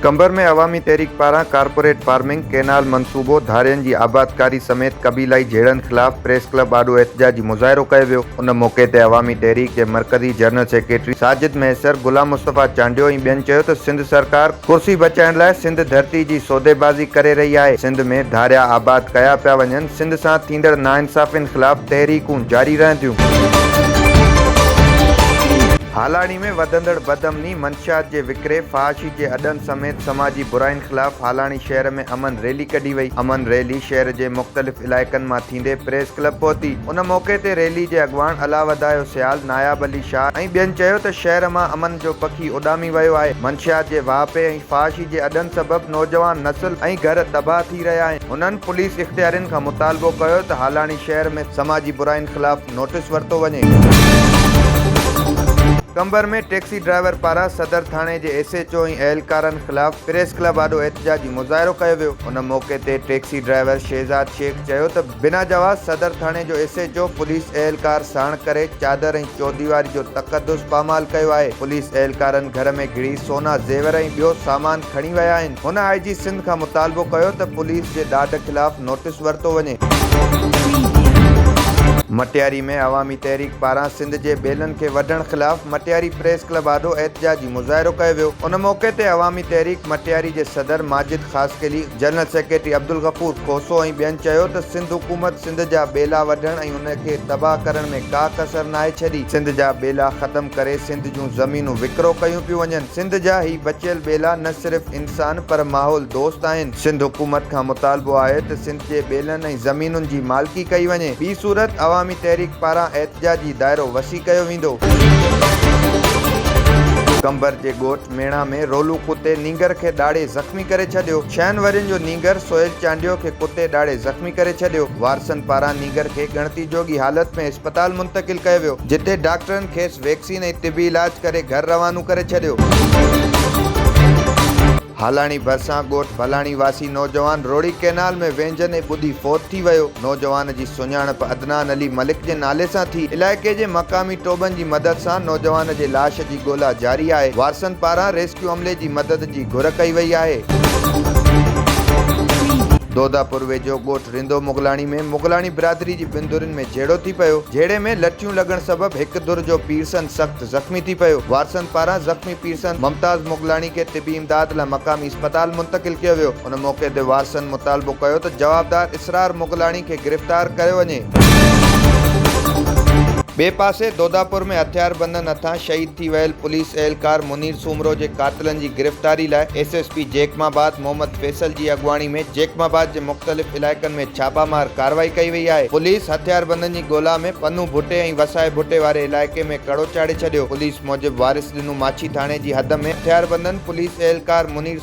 قمبر ۾ عوامي تحريڪ پاران corporate farming, canal منصوبو، ڌارين جي آبادڪاري سميت قبيلائي جهيڙن خلاف پريس ڪلب آڏو احتجاجي مظاهرو ڪيو ويو. ان موقعي تي عوامي تحريڪ جي مرڪزي جنرل سيڪريٽري ساجد مهيسر، غلام مصطفيٰ چانڊيو ۽ ٻين چيو ته سنڌ سرڪار ڪرسي بچائڻ لاء سنڌ ڌرتي جي سوديبازي ڪري رهي آهي، سنڌ ۾ ڌاريا آباد ڪيا پيا وڃن، سنڌ سان ٿيندڙ ناانصافين خلاف تحريڪون جاري رهنديون. هالاڻي ۾ وڌندڙ بدامني، منشيات جي وڪري، فحاشي جي اڏن سميت سماجي برائين خلاف هالاڻي شهر ۾ امن ريلي ڪڍي وئي، امن ريلي شهر جي مختلف علائقن مان ٿيندي ايندي پريس ڪلب پهتي. ان موقعي تي ريلي جي اڳواڻ علاوڌايو سيال، ناياب علي شاهه ۽ ٻين چيو ته شهر مان امن جو پکي اڏامي ويو آهي، منشيات جي واهپي ۽ فحاشي جي اڏن سبب نوجوان نسل ۽ گهر تباهه ٿي رهيا آهن. هنن پوليس اختيارين کان مطالبو ڪيو ته هالاڻي شهر ۾ سماجي براين خلاف نوٽيس ورتو وڃي. قمبر ۾ ٽيڪسي ڊرائيور پاران صدر ٿاڻي جي ايس ايچ او ۽ اهلڪارن خلاف پريس ڪلب آڏو احتجاجي مظاهرو ڪيو ويو. ان موقعي تي ٽيڪسي ڊرائيور شهزاد شيخ، چيو ته بنا جواز صدر ٿاڻي جو ايس ايچ او پوليس اهلڪار ساڻ ڪري چادر ۽ چوديواري جو تقدس پامال ڪيو آهي، پوليس اهلڪارن گهر ۾ گهڙي سونا زيور ۽ ٻيو سامان کڻي ويا آهن، هن آء جي سنڌ کان مطالبو ڪيو ته پوليس جي ڏاڍ خلاف نوٽيس ورتو وڃي. مٽياري ۾ عوامي تحريڪ پاران سنڌ جي ٻيلن کي وڍڻ خلاف مٽياري پريس ڪلب آڏو احتجاجي مظاهرو ڪيو ويو، ان موقعي تي عوامي تحريڪ مٽياري جي صدر ماجد خاصخيلي، جنرل سيڪريٽري عبدالغفور کوسو ۽ ٻين چيو ته سنڌ حڪومت سنڌ جا ٻيلا وڍڻ ۽ ان کي تباهه ڪرڻ ۾ ڪا ڪسر ناهي ڇڏي، سنڌ جا ٻيلا ختم ڪري سنڌ جون زمينون وڪرو ڪيون پيون وڃن، سنڌ جا هي بچيل ٻيلا نه صرف انسان پر ماحول دوست آهن، سنڌ حڪومت کان مطالبو آهي ته سنڌ جي ٻيلن ۽ زمينن جي مالڪي ڪئي وڃي، ٻي صورت عوامي تحريڪ پاران احتجاجي دائرو وسيع ڪيو ويندو. قنبر جي ڳوٺ ميڻا ۾ رولو ڪتي نينگر کي ڏاڙهي زخمي ڪري ڇڏيو، ڇهن ورهين جو نينگر سهيل چانڊيو کي ڪتي ڏاڙهي زخمي ڪري ڇڏيو، وارثن پاران نينگر کي ڳڻتي جوڳي حالت ۾ اسپتال منتقل ڪيو ويو، جتي ڊاڪٽرن کيس ويڪسين ۽ طبي علاج ڪري گهر روانو ڪري ڇڏيو. هالاڻي ڀرسان ڳوٺ ڀلاڻي واسي نوجوان روهڙي ڪئنال ۾ وينجهندي ٻڏي فوت ٿي ويو، نوجوان جي سڃاڻپ عدنان علي ملڪ جي نالي سان ٿي، علائقي جي مقامي ٽوٻن جي مدد سان نوجوان جي لاش جي. ڳولا جاري آهي، وارثن پاران ريسڪيو عملي جي مدد جي گهر ڪئي وئي آهي. دوداپور ويجهو ڳوٺ رندو مغلاڻي ۾ مغلاڻي برادري جي ٻن ڌرين ۾ جهيڙو ٿي پيو، جهيڙي ۾ لٺيون لڳڻ سبب هڪ ڌر جو پيرسن سخت زخمي ٿي پيو، وارثن پاران زخمي پيرسن ممتاز مغلاڻي کي طبي امداد لا مقامي اسپتال منتقل ڪيو ويو. ان موقعي تي وارثن مطالبو ڪيو ته جوابدار اسرار مغلاڻي کي گرفتار ڪيو وڃي. ٻئي پاسي دوداپور ۾ هٿياربندن هٿان شهيد ٿي ويل پوليس اهلڪار منير سومرو جي قاتلن جي گرفتاري لاء S S P Jacobabad Muhammad Faisal جي اڳواڻي ۾ جيڪب آباد جي مختلف علائقن ۾ ڇاپا مار ڪارروائي ڪئي وئي آهي پوليس هٿياربندن جي ڳولا ۾ پنهون ڀٽي ۽ وسائي ڀٽي واري علائقي ۾ ڪڙو چاڙهي ڇڏيو پوليس موجب وارث ڏنو ماڇي ٿاڻي جي حد ۾ هٿياربندن پوليس اهلڪار منير